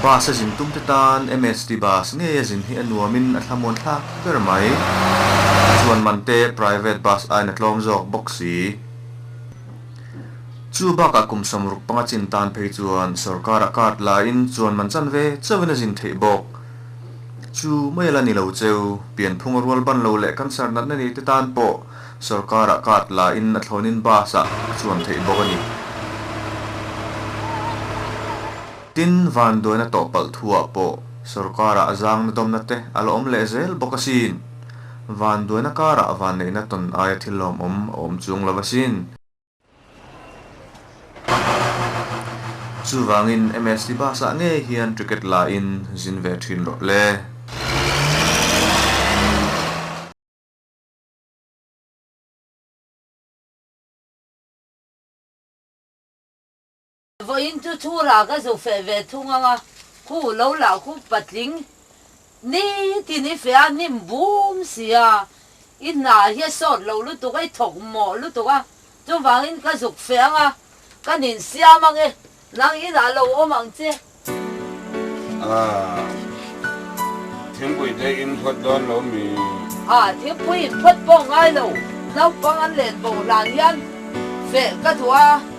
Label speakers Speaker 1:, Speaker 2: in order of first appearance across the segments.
Speaker 1: Bus a zin tum te tan MHD bus ngeia zin hi a nuamin a thlamuan thlak ber mai. Chuan man te private bus aiin a tlawm zawk bawk si. Chu bakah kum sam ruk panga chin tan phei chuan sorkara card laiin chuan man chan ve chauhin a zin theih bawk. Chu mai la ni lo che, pianphung a rual ban lo leh cancer natna nei te tan pawh sorkara card la in a thlawnin bus ah a chuan theih bawk a ni. Tin, van duaina tawh palh thu ah pawh sorkara a zangna dawmna te a la awm leh zel bawk asin. Van duaina karah van neihna tawn aia thil lawmawm a awm chung lo asin. Chuvangin MS Libasa ngei hian Cricket lain zin ve thin rawh le. Vawiin chu thu rah ka zu feh ve thung ang a, khu lo lah khu patling ni tin i feh a, nim bum si a, i hna hi a sawt loh lutuk a, i thawk mawh lutuk a, chuvangin ka zuk feh ang a, kan insiam ang e, nang in a lo awm ang che. Aah, thingpui te in phawt dawn lo mi? Aah, thingpui in phawt pawh ngai lo, naupang an len boh hlan hian feh ka duh a.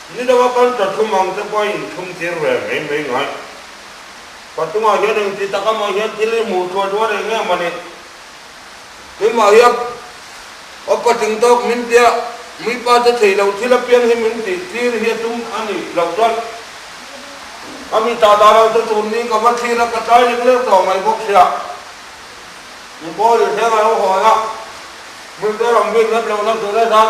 Speaker 1: Ni dang a kal ta thum ang te pawh a inthum tir ve mai mai ngai. Pathumah hian eng ti tak amaw hian thil hi hmuh thluah duh a reng em a ni. Tui mah hi a aw pating tawk min tia, mui pa te thei lo thil apiang hi min tih tir hi a tum a nih loh chuan a mi tah dah lo te tur ni ka va thlir a, ka tlai lek lek tawh mai bawk sia. Min pa leh hreng a lo hawi a, hmun te ram ve nghet lohna tur a zat.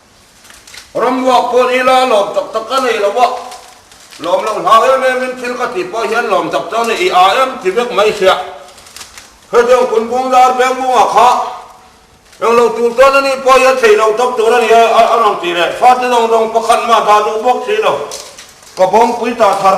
Speaker 1: Ram luak pawh ni la lawm tak tak ka nei lo a, lawm lo hlau em em in thil ka tih pawh hian lawm tak chuan i a em ti vek mai sia. Hetiang kun bung dar veng bung ah kha eng lo tur chuan a ni pawh hian thei lo tak tur a ni a a rawn ti leh fate dawng dawng pakhat mah dah duh bawk si lo ka bawmpuita thar.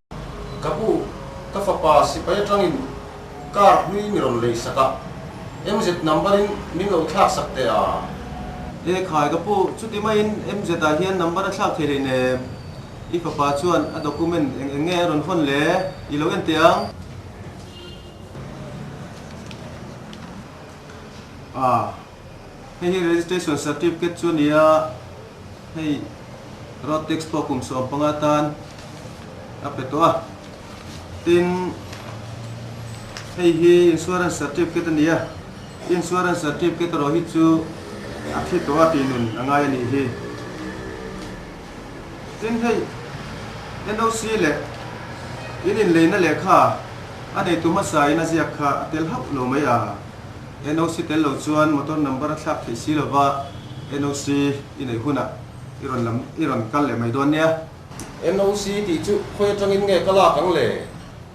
Speaker 1: Ka bu, ka fapa sipai atangin car hlui ni rawn lei sakah, MZ number in min lo thlak sak teh a? Lekhai, Ka pu, chuti maiin MZ ah hian number a thlak thei rei ne? I fapa chuan a document eng eng nge a rawn hawn le? I lo en teh ang. Aa. Hei hi registration certificate chu a ni a, hei road tax pawh kum sawm panga tan a pe tawh a, tin hei hi insurance certificate a ni a, insurance certificate erawh hi chu a thi tawh a tih nun a ngai a nih hi. Tin hei NOC leh in inleihna lehkha a neitu hmasa in a ziak kha a tel hauh lo mai a. NOC tel lo chuan motor number a thlak theih si lova NOC i neih hunah i rawn lam i rawn kal leh mai dawn nia. NOC tih chu khawi atangin nge ka lak ang le?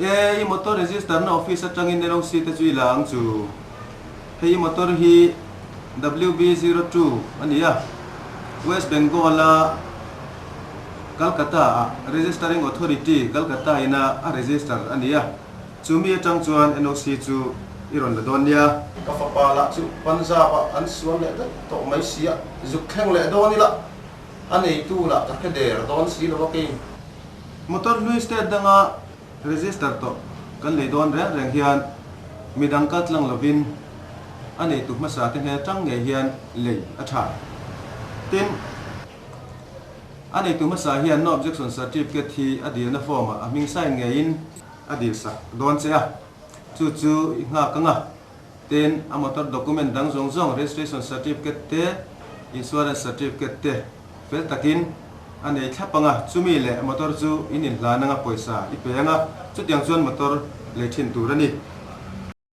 Speaker 1: E, i motor register na office atangin NOC te chu i la ang chu. Hei i motor hi WB zero two a ni a, West Bengal a Calcutta-ah Registering Authority, Calcutta ina a register a ni a. Chu mi atang chuan NOC chu i rawn la dawn nia. Ka fapa lah chu Punjab-a an sual leh vek tawh mai sia, zuk thleng leh dawn ila a neitu lah ka hre der dawn si lo a kei. Motor hlui state danga register tawh kan lei dawn reng reng hian midang kal tlang lovin a neitu hmasa te hne tang ngei hian lei a tha. Tin, a neitu hmasa hian no objection certificate hi a dirna form-ah a hming sign ngeiin, A dil sak dawn che a, chu chu i nghak ang a, ten a motor document dang zawng zawng, registration certificate te, insurance certificate te fel takin a nei thlap ang a, chumi leh motor chu in inhlan anga pawisa i pe ang a, chutiang chuan motor lei thin tur a ni.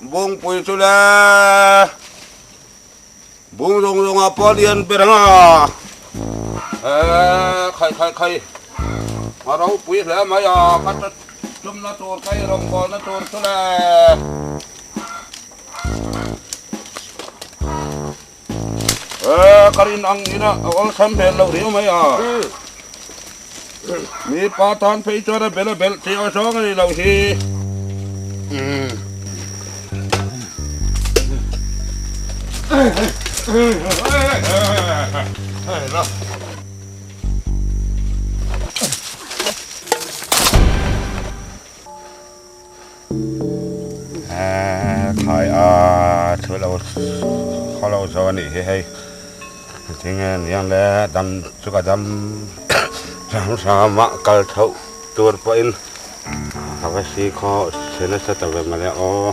Speaker 1: Bungpui chu le bung zawng zawng ah pawh a lian ber ang a, ehh khai khai khai a ropui hle mai a, ka ta tumna tur ka i rawngbawlna tur chu le. Ka rin ang ina a awr chham hmel loh riau mai a, mi pa tan phei chuan a bela belh tih a zawng a nih loh hi. thlai aa thu lo khaw lo zawh a nih hi hei thing nge ni ang le dam chu ka dam hram hram a kal thoh tur pawhin ka va si khaw se nasa ta ve mawle aw.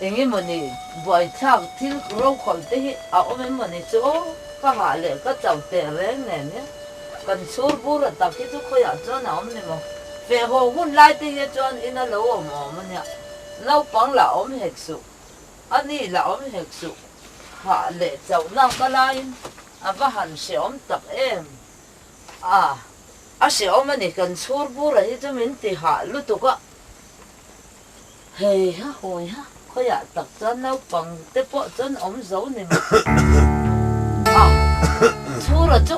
Speaker 1: Eng emaw ni buaithlak thil rokhawm te hi a awm em maw ni chu ka hah leh ka chauh teh reng nen hi. Kan chhur bura tak hi chu khawiah chuan a awm ni maw? Fehhaw hun lai te hi chuan in a lo awm awm a nia. Naupang la awm hek suh, a ni la awm hek suh hah leh chauh nak a laiin a va han hrehawm tak em. Aah a hrehawm a ni kan chhur bura hi chu min ti hah lutuk a. Hei ha hawi ha, khawiah tak chuan naupang te pawh chuan awm zo ni mah a, Chhura chu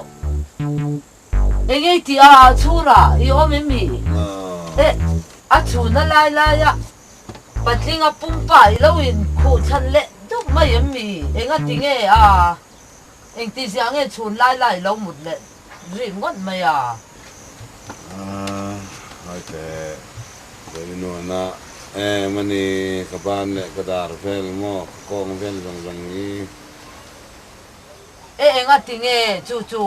Speaker 1: enge i ti a, Chhura i awm em i? Eh, a chhun a lai lai a, Patlinga pumpa i lo in khuh chhan leh dup mai em i? Eng a ti nge a? Engtihzia nge chhun lai lai lo mut leh rih ngawt mai a? Hawi te, Zainuana, Em ani, ka ban leh ka dar vel maw? Ka kawng vel zawng zawng ni. E enga tinge chu chu?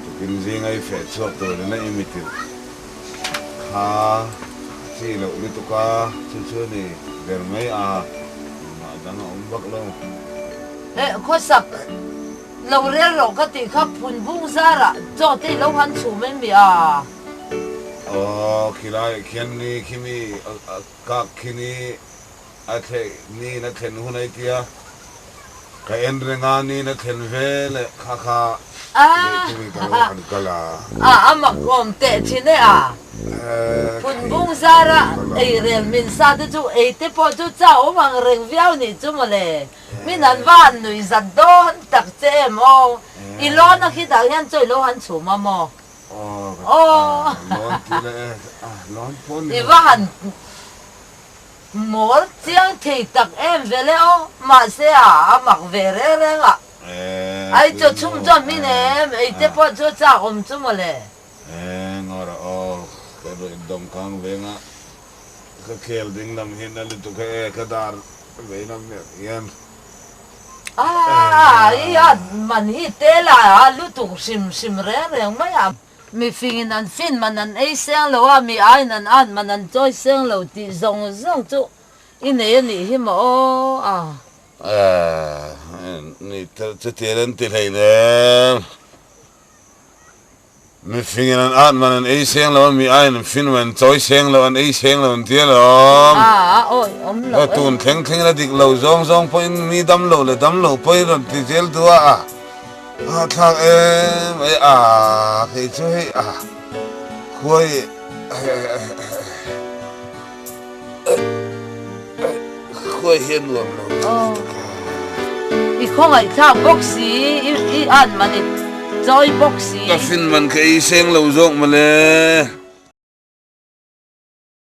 Speaker 1: Tukin zingai feh chhuak turin a imitir kha a chi loh lutuk a, chu chu ni ber mai a, engmah dang a awm vak lo. Heh, khawsak lo rel rawh ka tih kha phun vung zarah chaw te i lo han chhum em mi a? Aw, khilaiah khian ni khi mi a kak khi ni. A thleh niin a thlen hun ai tia, ka en reng a niin a thlen ve leh kha kha leh chungin ka lo han kal a. A a mak awm teh thin e a. Phunbung zara eirel min sa te chu ei te pawh chu chau mang reng viau nih chu mawle, min han va han nuih zat dawn tak che em aw. I lawn a khitah hian chaw i lo han chhum a maw? Aw. Aw. Lawn tih leh e, lawn pawn ni maw? I va han. Mawl chiang thei tak em ve le aw, mahse a a mak ve reng reng a. Ai chaw chhung chuan hmin em ei te pawh chu chak awm chu maw le. Engawr aw, ka ruih dawng khang venga ka khel ding lam hi na lutuk he e, ka dar ve lam mek hian. Aa, i a man hi te la a lutuk hrim hrim reng reng mai a. Mifing in an fin man an ei seng lo a, mi aiin an an man an chawi seng lo tih zawng zawng chu i nei a nih hi maw aw. Aah, ni tel che tir an ti hlei ner. Mifing in an an man an ei seng lo a, mi aiin an fin man an chawi seng lo, an ei seng lo an ti alawm. Aah, awi awm lo e. Tun thleng thleng in a dik lo zawng zawng pawhin mi dam lo leh dam lo pawhin rawn ti zel duh a. Aa thlak e mai a kei chu hei a khua hi khua hi a nuam lo tak a. I khawngaih thlak bawk si i an man i chawi bawk si. Ka fin man kha i seng lo zawk mawle.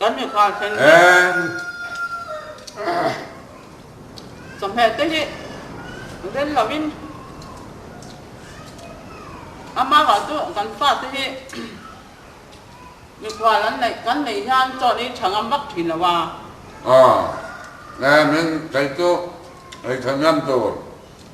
Speaker 1: Kan mipa thleng hi chawhmeh te hi rel lo in a mau ah chu kan pa te hi mikhual an neih kan neih hian chawn hi tha ngam vak thin lo a. Aw, min kei chu ei tha ngam tur.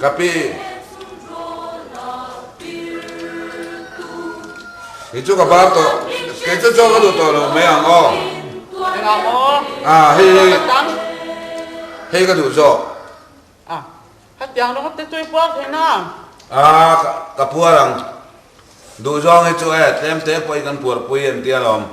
Speaker 1: Ka pi Hi chu ka var tawh Kei chu chaw ka duh tawh lo mai ang aw Engah maw Ah hei hi Ka tam Hei ka duh zawk Ah hetiang rawng te chu i puar theihna Ah ka puar ang Duh zawng hi chu e tlem te pawh i kan puar pui entia lawm.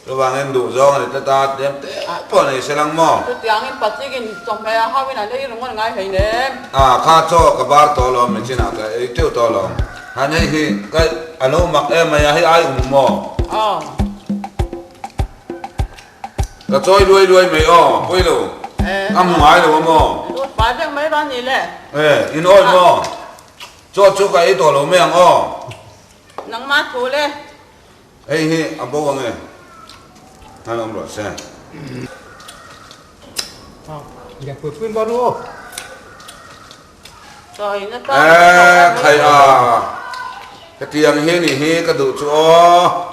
Speaker 1: Chuvangin duhzawng a ni tlat a, tlem te ai pawh nei se lang maw? Chutiangin Pathikin chawhmeh a hauin an ei reng a ngai hei nem. A kha chaw ka bar tawh alawm, min chinah ka ei teuh tawh alawm. Han hei hi ka a lo mak em mai a, hei ai um maw? Aw. Ka chawi luai luai mai aw, Puilu. Ka hmu ngai lo a maw? Lut pai deuh mai ral ni le. E, in awi maw? Chaw chu ka ei tawh lo mai ang aw. Nangmah thu le, Hei hi a bo ang e. Hlan awm rawh se. Lian pui pui maw ru? Eee khai a. Ka ti ang hi ni hi ka duh chu aw.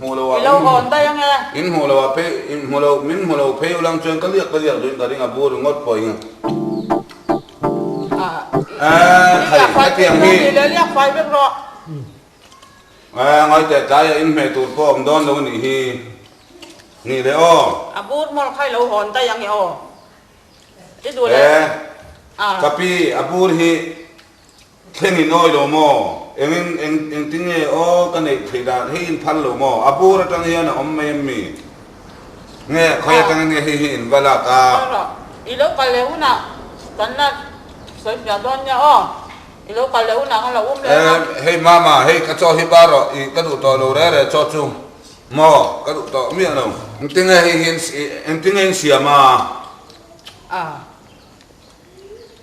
Speaker 1: Hmuh lo ah min hmuh daih ang e. In hmuh lo ah phei in hmuh lo min hmuh lo phei ulang chuan ka liak ka liak duin ka ring a bu ri ngawt pawh eng a thei hetiang hi liak fai vek rawh ah ngawi teh tlai ah in hmeh tur pawh awm dawn lo a nih hi nih leh aw a bur mawl kha i lo hawn daih ang e aw i duh leh ah ka pi a bur hi. Thleng i nawi lo maw? Engin eng engtinge aw ka neih theih dan? Hei in phal lo maw? A bur atang hian a awm mai em mi? Nge khawi atangin nge hei hi in va lak a? Khawi rawh. I lo kal leh hunah kan la sawifiah dawn nia aw. I lo kal leh hunah kan la um leh a. Hei mama, hei ka chaw hi bar rawh. I ka duh tawh lo reh reh chaw chu maw? Ka duh tawh miah lo. Engtinge hei hi in engtinge in siam a? A.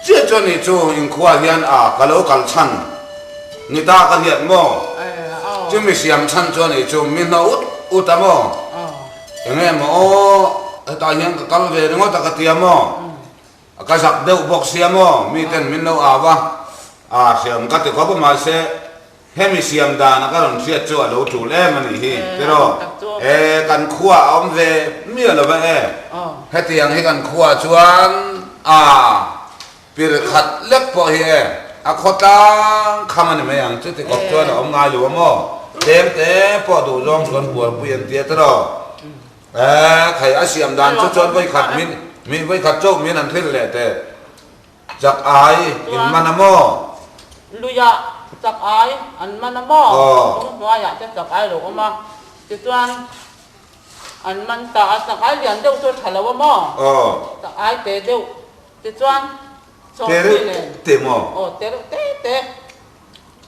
Speaker 1: Chiah chuan ni chu inkhua hian a ka lo kal chhan, ni ta ka hliat maw? Chumi siam chhan chuan ni chu mi hna ut ut a maw? Eng em aw, hetah hian ka kal ve ringawt a ka ti a maw? A ka zak deuh bawk si a maw? Miten min lo au a, a hriam ka ti khawp a mahse, Hemi siam dana ka rawn hriat chu a lo tul em anih hi tiraw? E, kan khuaah a awm ve miah lo va e. Hetiang hi kan khuaa chuan aa pir khat lek pawh hi e, a khaw tlang kham a ni mai ang chu tikawp chuan a awm ngai lo a maw? Tlem te pawh duh zawng chuan buarpui an ti a tiraw? E, thei a siam dan chu chuan vawi khat min, mi vawi khat chauh min an thlir leh teh. Chak ai in man a maw? Chuan luia chak ai an man a maw? Chung hnuaiah te chak ai lo awm a, tichuan an man ta a, chak ai lian deuh chu a tha lo a maw? Chak ai te deuh, tichuan chawhmehne, aw te reuh te te.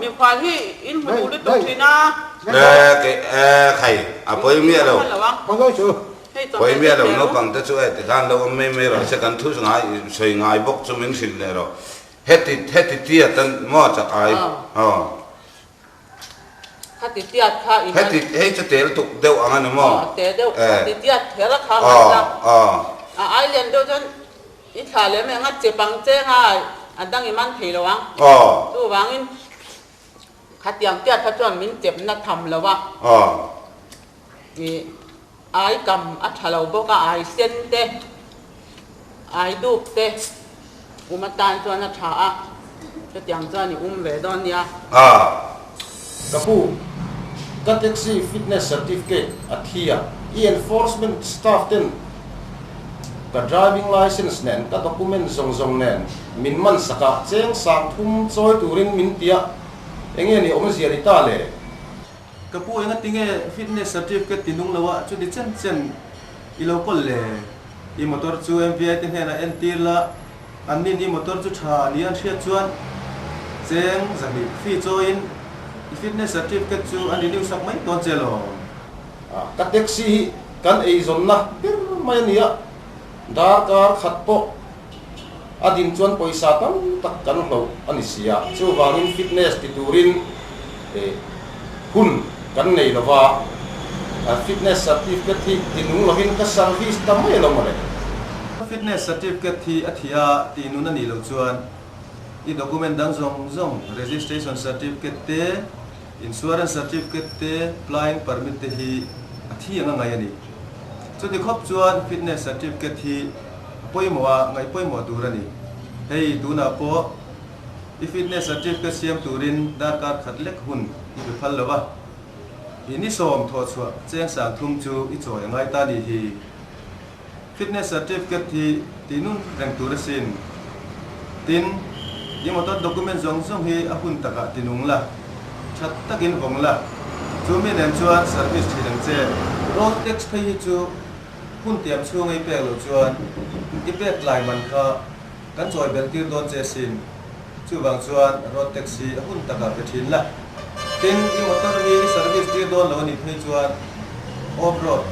Speaker 1: Miuhkhan hi in hmu duh lutuk thin a. Hei a pawi miah lo. Pawi miah lo naupang te chu heti khan lo awm mai mai rawh se kan thu ngai sawi ngai bawk chu min hrilh leh rawh. Heti heti tiat a ni maw chak ai aw. Khati tiat kha in an. Heti hei chu tel tuk deuh ang a ni maw. Tel deuh khati tiat thela kha ngai ta. A ai lian deuh chuan. I thlah lem e ngat che pang che nga a dang i man thei lo ang. Chu vang in khatiang piat kha chuan min chep na tham lo a. I ai kam a tha lo bawk a, ai sen te, ai duk te um atan chuan a tha a. Hetiang chuan i um ve dawn nia. A, ka pu, ka taxi fitness certificate a thi a, i enforcement staff ten ka driving licence nen ka document zawng zawng nen min man sak a, cheng sang thum chawi turin min ti a, eng nge ni awmzia ni ta le? Ka pu, enga tinge fitness certificate ti nung loa chu ni chen chen i lo kawl le? I motor chu MVI te hnena entir la. An nih ni motor chu tha ni an hriat chuan cheng zahnih fi chawiin i fitness certificate chu an renew sak mai tawn che law. Ka taxi hi kan eizawnna ber mai a ni a, darkar khat pawh a din chuan pawisa tam tak kan hloh a ni sia, chuvangin fitness ti turin hun kan nei lo va, Fitness Certificate hi tinung lovin ka service ta mai lo mawle. Fitness Certificate hi a thia tinun a nih lo chuan i document dang zawng zawng, Registration Certificate te, Insurance Certificate te, Flying Permit te hi a thi anga ngai a ni. Chuti khawp chuan Fitness Certificate hi a pawimawh a ngaihpawimawh tur a ni. Hei tunah pawh. I fitness certificate siam turin darkar khat lek hun i pe phal lo a, i ni sawm thawh chhuah cheng sang thum chu i chawi a ngai ta ni hi. Fitness certificate hi ti nun reng tur a sin. Tin, i motor document zawng zawng hi a hun takah ti nung la, that takin vawng la, chu mi nen chuan service thin ang che. Road tax phei hi chu hun tiam chhunga i pek loh chuan i pek tlai man kha. Kan chawi beltir dawn che sin. Chuvang chuan road tax hi a hun takah pe thin la. Tin, i motor hi i service tir dawn lo anih phei chuan off road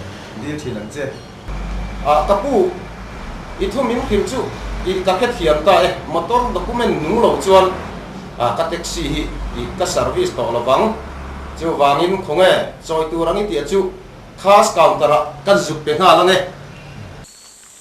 Speaker 1: dir thin ang che. Ah, ka pu, i thu min hlim chu i ka khet hiam ta e. Motor document nung lo chuan ah ka taxi hi i ka service tawh lo vang. Chuvangin khawnge chawi tur ang i tih a chu cars counter ah kan zuk pe nghal ang e.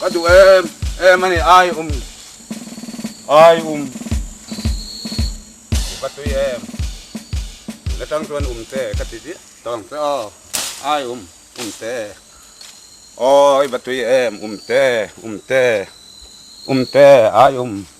Speaker 1: Ka duh em em a ni ai um ai um u ka tui em na tang chuan um te ka ti diah tawng che aw ai um um te awi va tui em um te um te um te ai um.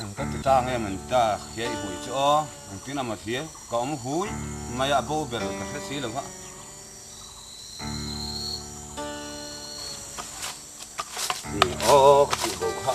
Speaker 1: An ka ti tlang em an ta khiah i huai chu aw an tin amaw thia ka awm hui mai a bo ber ka hre si lo va. Ni aw ka tih bo kha.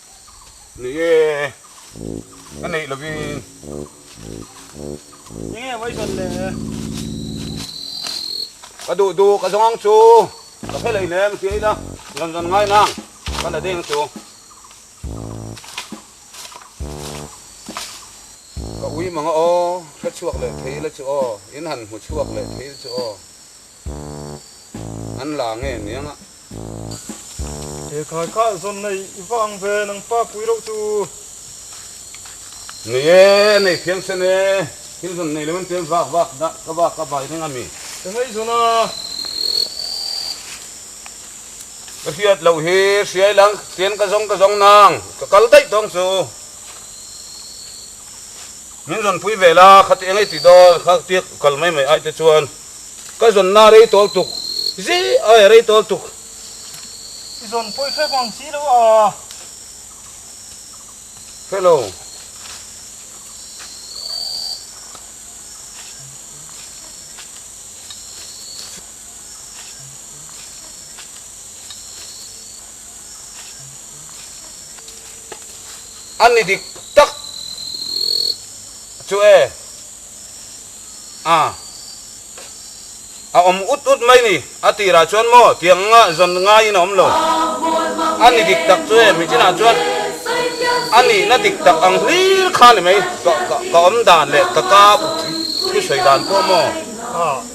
Speaker 1: Ni e, ka neih lovin. Ni e, voi zawn le. Ka duh duh ka zawng ang chu. Ka phe lei lem ti aila zawn zawn ngai nang ka la deng chu. Ka ui mang a aw, hre chhuak leh thei ila chu aw, in han hmu chhuak leh thei ila chu aw. An la nge niang a. He khai kha zawn na i vang ve nang pa pui reuh tu. Nei e, nei phian sen e, thil zawn nei lo in tel vak vak dah ka va ka vai reng a mi. Ka ngaih zawn a. Ka hriat loh hi hriai lang chian ka zawng ka zawng nang ka kal daih tawng chu. Min zawn pui ve la kha ti e ngei ti dawn kha tiak kal mai mai ai te chuan. Ka zawnna rei tawl tuk zi ai rei tawl tuk. I zawn pawi fek ang si lo aa. Hello. An ni dik tak chu e. a a awm ut ut mai ni a tirah chuan maw tiang anga zawn ngaiin a awm lo a ni dik tak chu hemi chinah chuan a nihna dik tak ang hlir kha ni mai ka ka awm dan leh ka ka thusawi dan pawh maw.